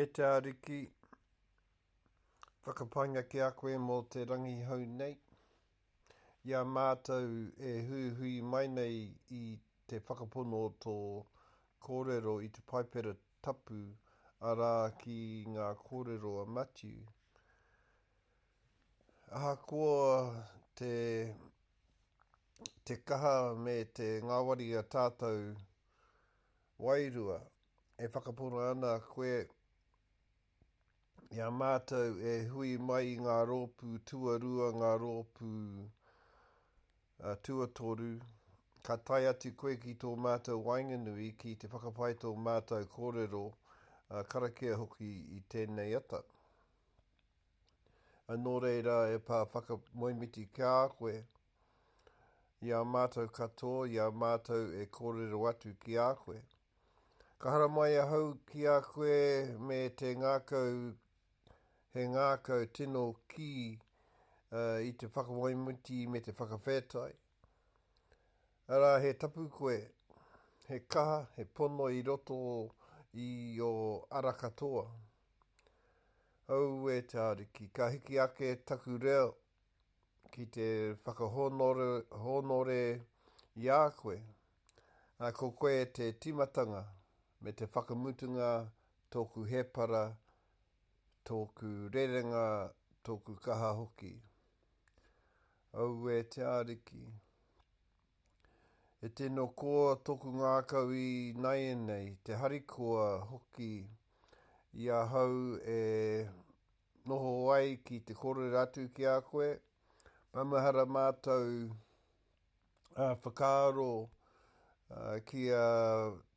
E te Ariki, whakapainga ki a koe mō te rangi hou nei, i a mātou e huihui mai nei i te whakapono o tō kōrero i te Paipera Tapu, arā, ki ngā kōrero a Matiu. Ahakoa te te kaha me te ngāwari a tātou wairua, e whakapono ana koe i a mātou e hui mai i ngā rōpū tuarua, ngā rōpū tuatoru, ka tae atu koe ki tō mātou waenganui ki te whakapae tō mātou kōrero karakia hoki i tēnei ata. Nō reira, e Pā Whakamoemiti ki a koe, i a mātou katoa, i a mātou e kōrero atu ki a koe. Ka haramai ahau ki a koe me te ngākau, he ngākau tino kī uh, i te whakamoemiti me te whakawhētai. Arā, he tapu koe, he kaha, he pono i roto i o ara katoa. Auē te Ariki, ka hiki ake taku reo ki te whakahōnore i a koe, ā, ko koe te tīmatanga me te whakamutunga tōku hēpara, tōku rerenga, tōku kaha hoki. Auē te Ariki. E tino koa toku ngākau i naianei, te harikoa hoki i ahau e noho ai ki te korere atu ki a koe. Maumahara mātou whakaaro ki a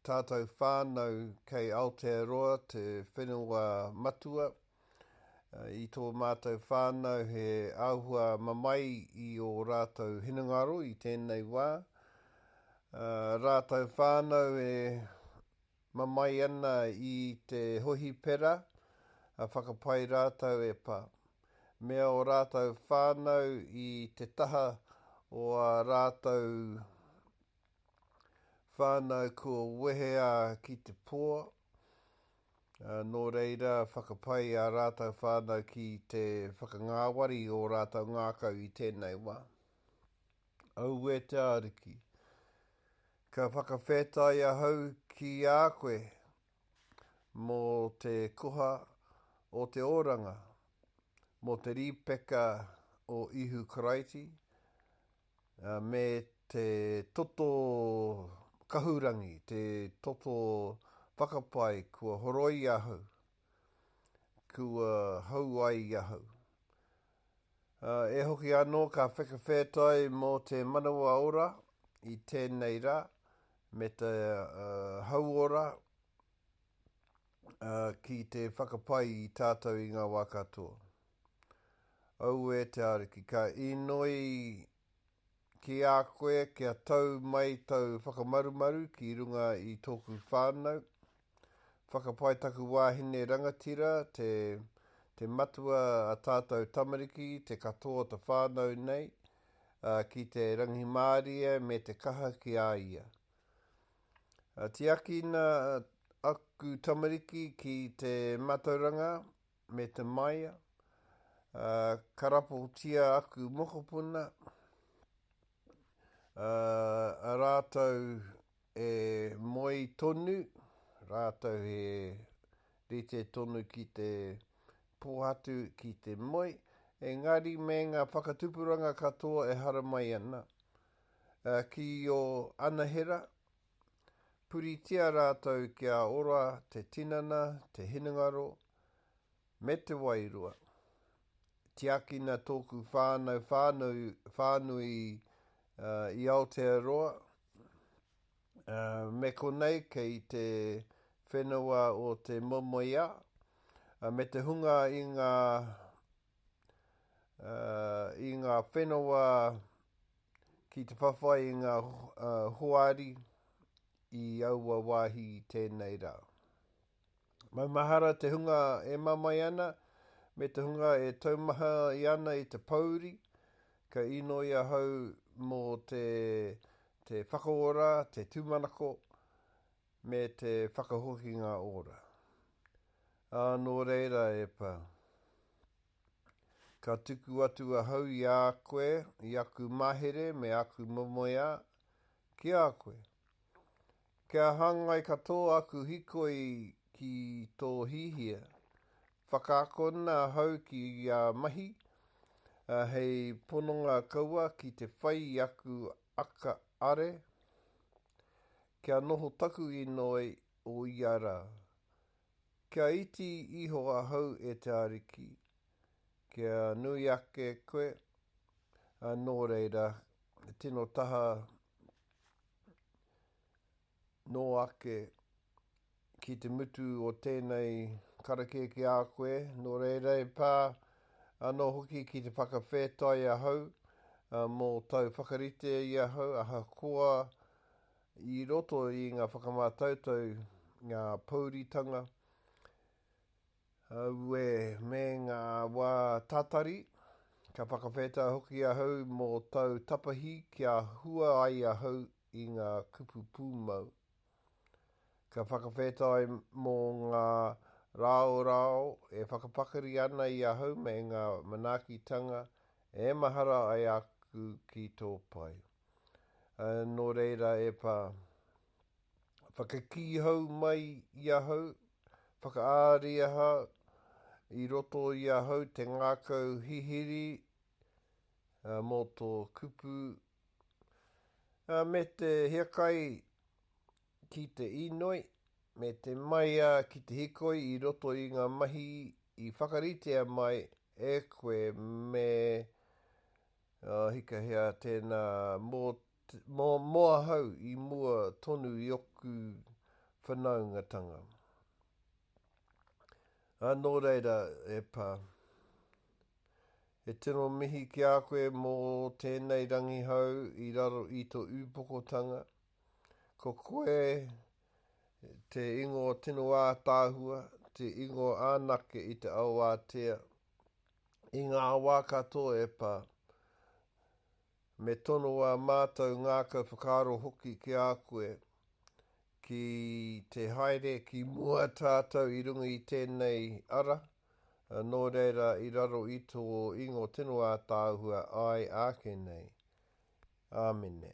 tātou whānau kei Aotearoa, te whenua matua. i tō mātou whānau he āhua mamae i ō rātou hinengaro i tēnei wā. Rātou whānau e mamae ana i te hohipera, whakapai rātou e pā. Mea o rātou whānau i te taha o a rātou whānau kua wehea ki te pō, ā, nō reira whakapai ā rātou whānau ki te whakangāwari i ō rātou ngākau i tēnei wā. Auē te Ariki! Ka whakawhetai ahau ki a koe mō te koha o te oranga, mō te rīpeka o Ihu Karaiti, me te toto kahurangi, te toto whakapae kua horoi ahau, kua hou ai ahau. E hoki anō ka whakawhetai mō te manawa ora i tēnei rā, me te hauora, ki te whakapai i tātou i ngā wā katoa. Aue te Ariki, ka inoi ki a koe kia tau mai tau whakamarumaru ki runga i tōku whānau, whakapai taku wāhine rangatira, te, te matua a tātou tamariki, te katoa ta whānau nei, uh, ki te rangimārie me te kaha ki a ia. Tiakina aku tamariki ki te matauranga me te maia, karapotia aku mokopuna, rātou e moe tonu, rātou he rite tonu ki te pōhatu, ki te moe, engari me ngā whakatupuranga katoa e haramai ana. ki ō anahera, puritia rātou kia ora te tinana, te hinengaro, me te wairua. Tiakina tōku whānau whānui, whānui uh, i Aotearoa, uh, me konei kei te whenua o te momoia, uh, me te hunga i ngā i ngā whenua ki te whawhai i ngā hoari i aua wāhi i tēnei rā. Maumahara te hunga e mamae ana, me te hunga e taumaha i ana i te pōuri, ka inoi ahau mō te whakaora, te tūmanako, Me te whakahokinga ora. Ā, nō reira, Epa, ka tuku atu ahau i a koe, i aku mahere me aku momoeā, ki a koe, kia hāngai katoa aku hikoi ki tō hihia, whakaakona ahau ki a mahi, ā, hei pononga kaua ki te whai i aku aka are, Kia noho taku inoi o ia ra. Kia iti iho ahau e te Ariki, kia nui ake koe, a no reira, tino taha no ake ki te mutu o tēnei karakia ki a koe, nō reira e pā anō hoki ki te whakawhētai ahau mō tau whakarite i ahau, ahakoa i roto i ngā whakamātautau, ngā pouritanga, aue me ngā wā tātari, ka whakawhētai hoki ahau mō tau tapahi kia hua ai ahau i ngā kupu pūmau. Ka whakawhetai mō ngā rāorao e whakapakari ana i ahau me ngā manaakitanga e mahara ai aku ki tō pai. Nō reira e Pā, whakakī hou mai i ahau, whakaariaha i roto i ahau te ngākau hihiri mō tō kupu Me te hiakai ki te inoi, me te maea ki te hikoi i roto i ngā mahi i whakaritea mai e koe me uh, hikahea tēnā mō, mō, mō ahau i mua tonu i oku whanaungatanga. Anō reira e pā. He tino mihi ki a koe mō tēnei rangihau i raro i to ūpokotanga. Ko koe te ingoa tino ātaahua, te ingoa anake i te ao ātea, i ngā wā katoa e pā. Me tono ā mātou ngākau whakaaro hoki ki a koe, ki te haere ki mua tātou i runga i tēnei ara, nō reira i raro i tō ingo tino ātaahua āe āke nei. Āmene.